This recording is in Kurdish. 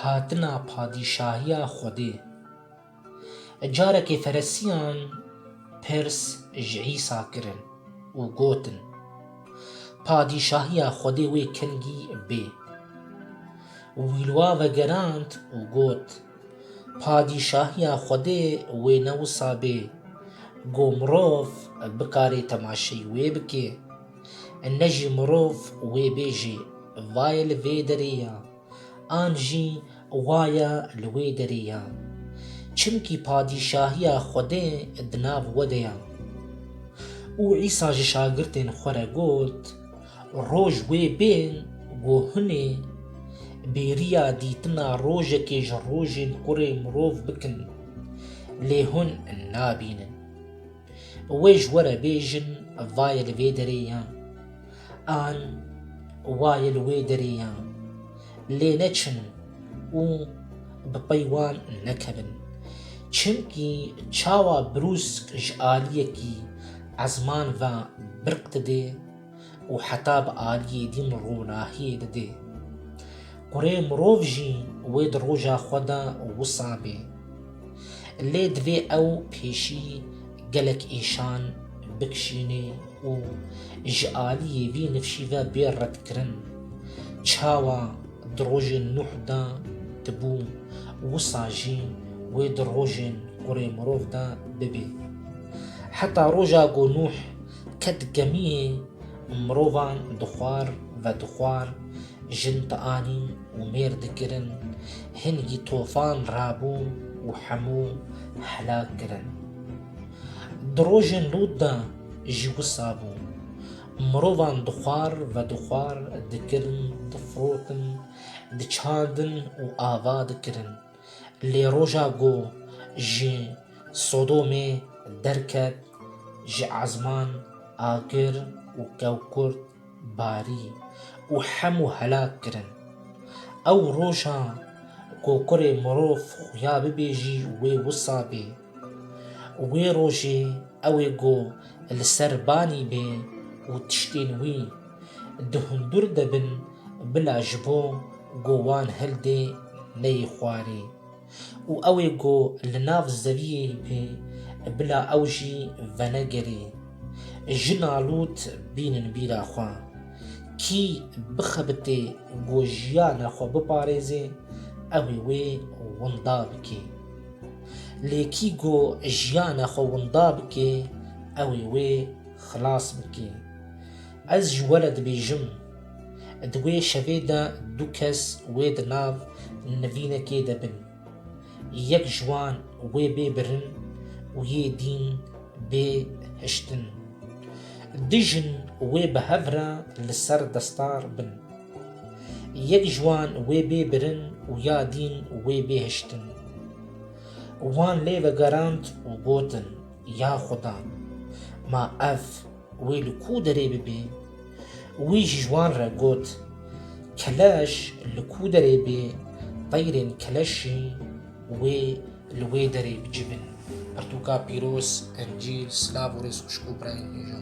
Hatina Padîşahiya Xwedê e, Carekê Feresiyan pirs ji Îsa kirin û gotin, Padîşahiya Xwedê wê kengî bê? Wî li wan vegerand û got, Padîşahiya Xwedê wê ne wisa bê, ku mirov bikarê temaşeyî wê bike. Ne jî mirov wê bêjê, Vaye li vê derê ya, an jî Waye li wê derê ya. Çimkî Padîşahiya Xwedê di nav we de ye. Û Îsa ji şagirtên xwe re got, Roj wê bên ku hûn ê bêriya dîtina rojekê ji rojên kurê mirov bikin, lê hûn nabînin. Wê ji we re bêjin vayê li vê derê ye an wayê li wê derê ye lê neçin û bi pey wan nekevin. Çimkî çawa brûsk ji aliyekî ezman ve birq dide. û heta bi aliyê din ronahiyê didê. Kurê mirov jî wê di roja xwe de wisa bê. Lê divê ew pêşî gelek îşan bikişînê û ji aliyê vî nifşî ve bê redkirin. Çawa di rojên Nuh de dibû wisa jî wê di rojên kurê mirov de bibê. Heta roja ku Nuh Ke di gemiyê mirovan di xwar ve di xwar jin dianîn û mêr dikirin, hingî tofan rabû û hemû helak kirin. Di rojên Lût de jî wisa bû. Mirovan di xwar ve di xwar dikirin, difirotin, diçandin û ava dikirin. Lê roja ku ji Sodomê derket, ji ezman agir û kewkurt barî û hemû helak kirin. Ew roja ku kurê mirov xuya bibêjî wê wisa bê. Wê rojê ew ê ku li ser banî bê û tiştên wî di hundir de bin bila ji bo ku wan hildê neyê xwarê û ew ê ku li nav zeviyê bê bila ew jî venegerê. Ji nalût bînin bîra xwe. Kî bixebitê ku jiyana xwe biparêzê, ew ê wê winda bike. Lê kî ku jiyana xwe winda bike, ew ê wê xilas bike. Ez ji we re dibêjim, di wê şevê de du kes wê di nav nivînekê de bin. Yek ji wan wê bê birin û yê dîn bê hiştin. Du jin wê bi hev re li ser destar bin. Yek ji wan wê bê birin û ya dîn wê bê hiştin. Wan lê vegerand û gotin, Ya Xuda! Ma ev wê li ku derê bibê? Wî ji wan re got, Keleş li ku derê bê, teyrên keleşî wê li wê derê bicivin. Pirtûka pîroz, Encîl, Silav û Rêzxuşk û Birayên Hêja!